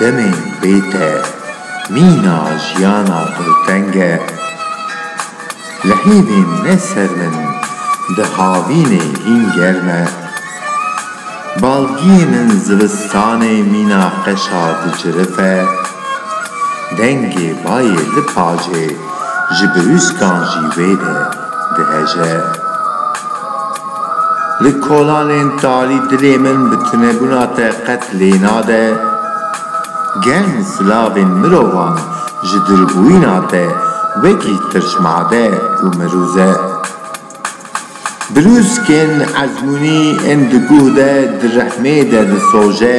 Demên bê te mîna jiyana dûrteng e. Li hêvên ne ser min di havînê hîn germ e. Balgiyê min zivistanê mîna qeşa di cirif e. Dengê bayê li pacê ji birûskan jî wê de diheje. Li kolanên talî dilê min bi tunebûna te qet lê nade. Gen silavên mirovan ji dûrbûyîna te wekî tirşmade û mirûz e. Birûskên ezmûnî ên di guh de di rehmê de disoje.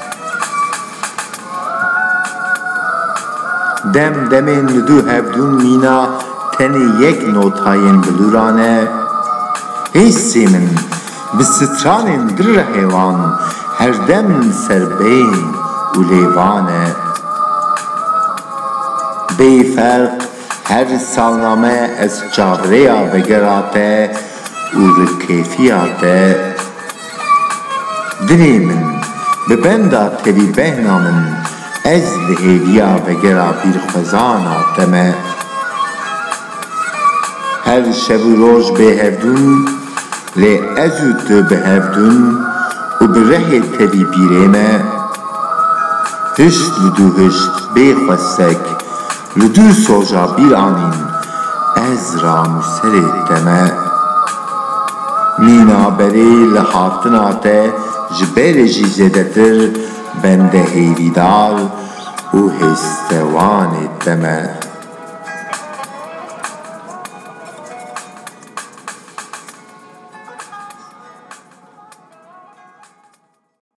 Dem demên li du hevdûn mîna tenê yek notayên bilûra ne. Hêsê min bi stranên di rehê wan herdem ser bên û lêvan e. Bê ferq her salname ez çavrêya vegera te û rikêfiya te. Dilê min bi benda tevî behna min ez li hêviya vegera bîrxwezana te me. Her şev û roj bê hevdûn lê ez û tu bi hevdûn û bi rehê tevî bîrê me. Hişt li dû hişt bê xwestek. Li du soja bîr anîn ez ra nûserê te me. Mîna berê li hatina te ji berê jî zêdetir bende hêvîdar û hêstewanê te me.